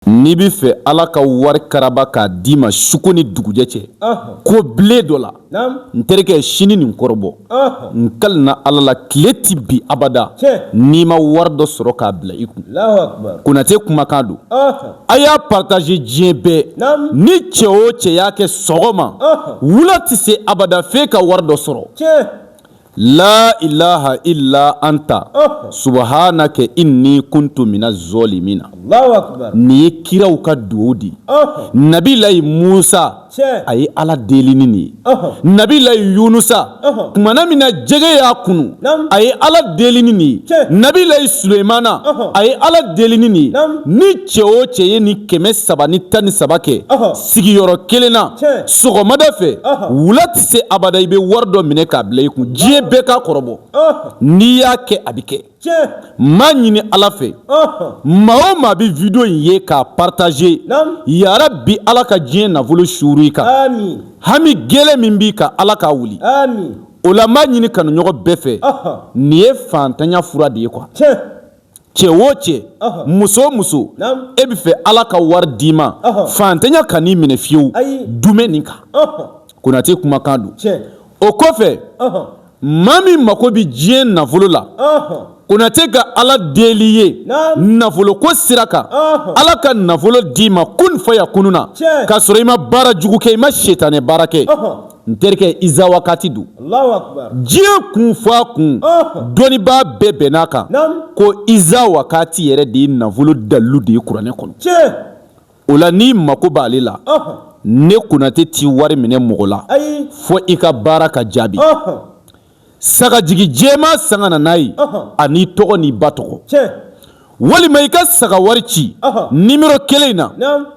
N'i bɛ fɛ ala ka wari karaba k'a d'i ma su ko ni dugujɛ cɛ ko bilen dɔ la n terikɛ sini nin kɔrɔbɔ n kalina ala la tile tɛ bin abada n'i ma wari dɔ sɔrɔ k'a bila i kun konatɛ kumakan don a y'a partager diɲɛ bɛɛ ni cɛ o cɛ y'a kɛ sɔgɔma wula tɛ se abada f'e ka wari dɔ sɔrɔ la ilaha illa anta subhanaka inni kuntu minaz zalimina nin ye kiraw ka dugawu di nabilayi musa a ye ala deli ni nin ye nabilayi yunusa tumana min na jɛgɛ y'a kunu a ye ala deli ni nin ye nabilayi sulemana a ye ala deli ni nin ye ni cɛ o cɛ ye nin kɛmɛ saba ni tan ni saba kɛ sigiyɔrɔ kelen na sɔgɔmada fɛ wula tɛ se abada i bɛ wari dɔ minɛ k'a bila i kun diɲɛ bɛɛ k'a kɔrɔbɔ n'i y'a kɛ a bɛ kɛ n b'a ɲini ala fɛ maa o maa bɛ video in ye k'a partager yarabi ala ka diɲɛ nafolo suuru i kan hami gɛlɛn min b'i kan ala k'a wuli o la n b'a ɲini kanuɲɔgɔn bɛɛ fɛ nin ye faantanya fura de ye quoi cɛ o cɛ muso o muso e bɛ fɛ ala ka wari d'i ma fantanya kan'i minɛ fiyewu duumɛ nin kan konatɛ kumakan don o kɔfɛ maa min mako bɛ diɲɛ nafolo la konatɛ ka ala deli ye nafolo ko sira kan ala ka nafolo d'i ma kun fayakun na k'a sɔrɔ i ma baara jugu kɛ i ma sitanɛ baara kɛ n terikɛ iza wakati don diɲɛ kun fɔ a kun dɔnnibaa bɛɛ bɛnn'a kan ko iza wakati yɛrɛ de ye nafolo dalilu de ye kuranɛ kɔnɔ o la n'i mako b'ale la ne konatɛ tɛ wari minɛ mɔgɔ la fɔ i ka baara ka jaabi sagajigi jɛman san ka na n'a ye an'i tɔgɔ n'i ba tɔgɔ walima i ka saga wari ci nimero kelen in na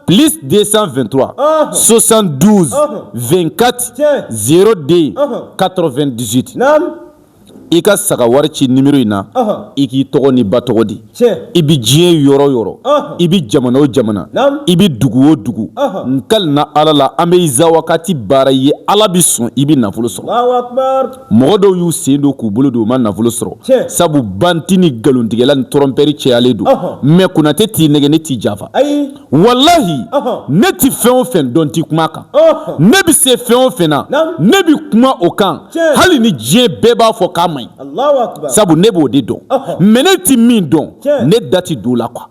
plis 223 72 24 02 98 i ka saga wari ci nimero in na i k'i tɔgɔ n'i ba tɔgɔ di i bɛ diɲɛ yɔrɔ o yɔrɔ i bɛ jamana o jamana i bɛ dugu o dugu n kalina ala la an bɛ iza wakati baara i ye ala bɛ sɔn i bɛ nafolo sɔrɔ mɔgɔ dɔw y'u sen don k'u bolo don u ma nafolo sɔrɔ sabu bandi ni nkalontigɛla ni tɔrɔnpɛri cayalen don mɛ konatɛ t'i nɛgɛn ne t'i janfa walahi ne tɛ fɛn o fɛn dɔn n tɛ kum'a kan ne bɛ se fɛn o fɛn na ne bɛ kuma o kan hali ni diɲɛ bɛɛ b'a fɔ k'a man ɲi sabu ne b'o de dɔn mɛ ne tɛ min dɔn ne da tɛ don o la quoi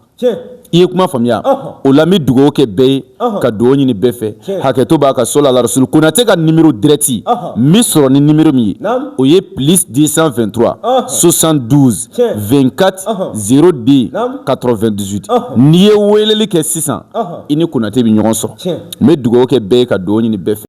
i ye kuma faamuya o la n bɛ dugawu kɛ bɛɛ ye ka dugawu ɲini bɛɛ fɛ hakɛto b'a kan sɔli ala rasulu konatɛ ka nimero dirɛkiti n bɛ sɔrɔ ni nimero min ye o ye plis 223 72 24 02 98 n'i ye weleli kɛ sisan i ni Konate bɛ ɲɔgɔn sɔrɔ n bɛ dugawu kɛ bɛɛ ye ka dɔ ɲini bɛɛ fɛ